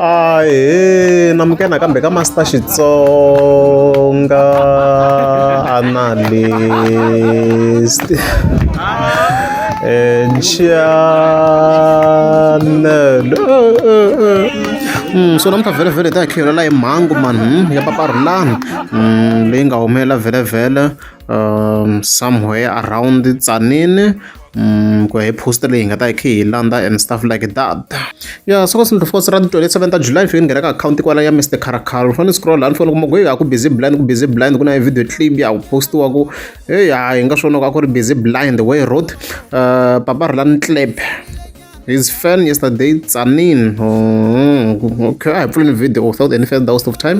ahe na muke nakambe ka master xitsonga analyst enchanelo Mm, so namuntlha vhelevhele ta hi khiyela hi mhangu mani hmm, ya paparhulani hmm, leyi nga humelela vhelevhele um somewhere around tsanini Mm, ku ya hi post leyi hi nga ta yi khe hi landza and stuff like that ya soko sindlu fosi ra titwenty seven ta july fike ni nghena ka akhawunti kwala ya mr caracal fane scroll la ni fone kuma ku heyi a ku busy blind ku busy blind ku na video clip ya ku postiwa ku heyi ha hi nga swona ku a ku ri busy blind way road uh, eh, papa ri la ni clap his fan yesterday tsanin oh, okay i pulling video without any further waste of time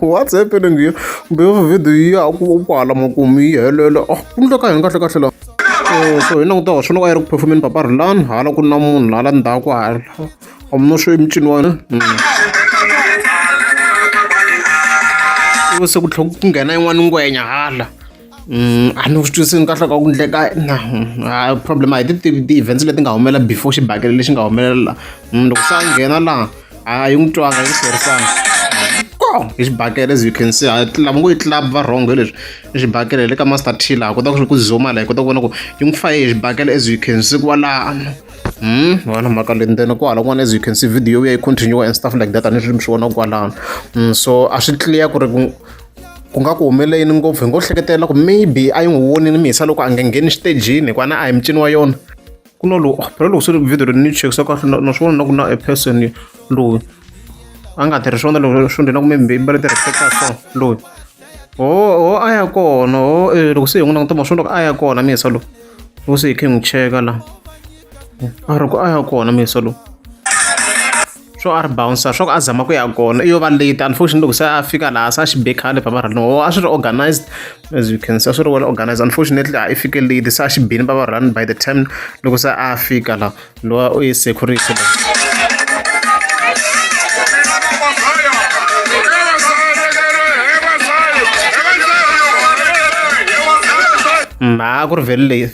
whatsapp ni ngiyo kumbe video yi ya ku kwala makumu yi helela oh, ku ndlo ka hini kahle kahle la eh, so hi languta wa swona a yi ri ku performeni papa rilani hala ku na munhu hala ndzhaku hala omno swo emicini wani hmm. se ku tlhela ku nghena yin'wana ngwenya hala a ni swi twisisi ni kahle ka ku endleka na a problem a hi ti tivi ti-events leti nga humelela before xibakele lexi nga humelela laha munhu loko se a nghena laha a yi n'wi twanga yi hlwerisanga ko hi xibakele as you can see a lava ngo yi club va wrong hi leswi i xibakele le ka master t laha kota ku ku zuma laha hi kota ku vona ku yi n'wi faye hi xibakele as you can see ku va lano Hmm, wona mhaka leyi ntsena kwala kun'wana as you can see video ya yi continue and stuff like that a ni swi mi swi vona kwalano so a swi clear ku ri ku nga ku humelele yini ngopfu hi ngo hleketela ku maybe a yi n'wi voni ni mihisa loko a nge ngheni xitejini hikuva na a hi mucini wa yona ku na lowu oh, phela loko swi ri video ri ni chekisa kahle na swi vona na ku na a person loyi a nga tirhi swona loko swi ndhina ku maybe i mbale ti-reflecta so loyi ho ho a ya kona ho eh, loko se hi n'wi languta ma swi loko a ya kona mihisa lowu loko se hi khe hi n'wi cheka laha a ri ku a ya kona mihisa lowu swo a ri bouncer swa ku a zama ku ya kona i yo va late unfortunately loko se a fika laha se a xi be khale bava ra lowo a swi ri organized as you can see a swi ri well organized unfortunately a i fike late se a xi bini bava run by the time loko se a fika la lowa u ye security la mhaka ku ri vele leyi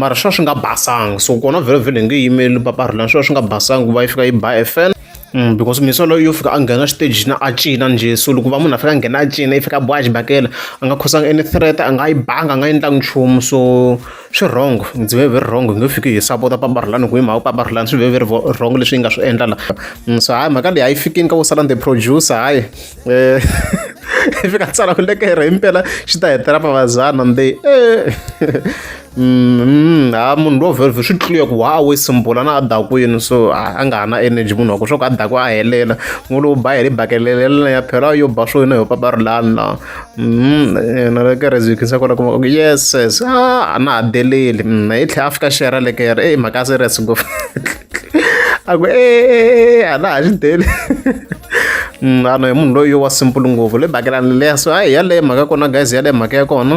mara swi va swi nga basanga so kona vhelovhelo hi nge yimeli paparhulani swi va swi nga basanga ku va yi fika yi ba fn Mm, because misolo yo fika a nghena xiteji na a cina njhe so loko va munhu a fika a nghena a cina yi fika boha xibakela a nga khosanga any threat a nga yi banga a nga endlangi nchumu so swi wrong ndzi ve very wrong hi nge fiki hi sapota paparhulani ku hi mhaka paparhulani swi ve very wrong leswi yi nga swi endla la mm, so hayi mhaka leyi a yi fikini ka vo sala the producer hayi eh, fika tsala ku lekera hi mpela xi ta hetela mavazana nde eh. mm-hmm. ha munhu lowo velve swi tluye ku wa we simbula na a dakwini so a nga ha na energy munhu wa ku swa ku a dakwa a helela n'wi lowu ba heli bakelelelana ya phela yo ba swo yona yo papa ri lani na mm-hmm. na lekere byi khinsa kona kuma ku yes yes a na ha deleli mm, hi tlhe a fika xera lekere e mhaka a serious ngopfu aku e a na ha xi deli vanhu hi munhu loyi wa simple ngopfu le bakelani leya so hayi yaleyo mhaka kona guys yaleyo mhaka ya kona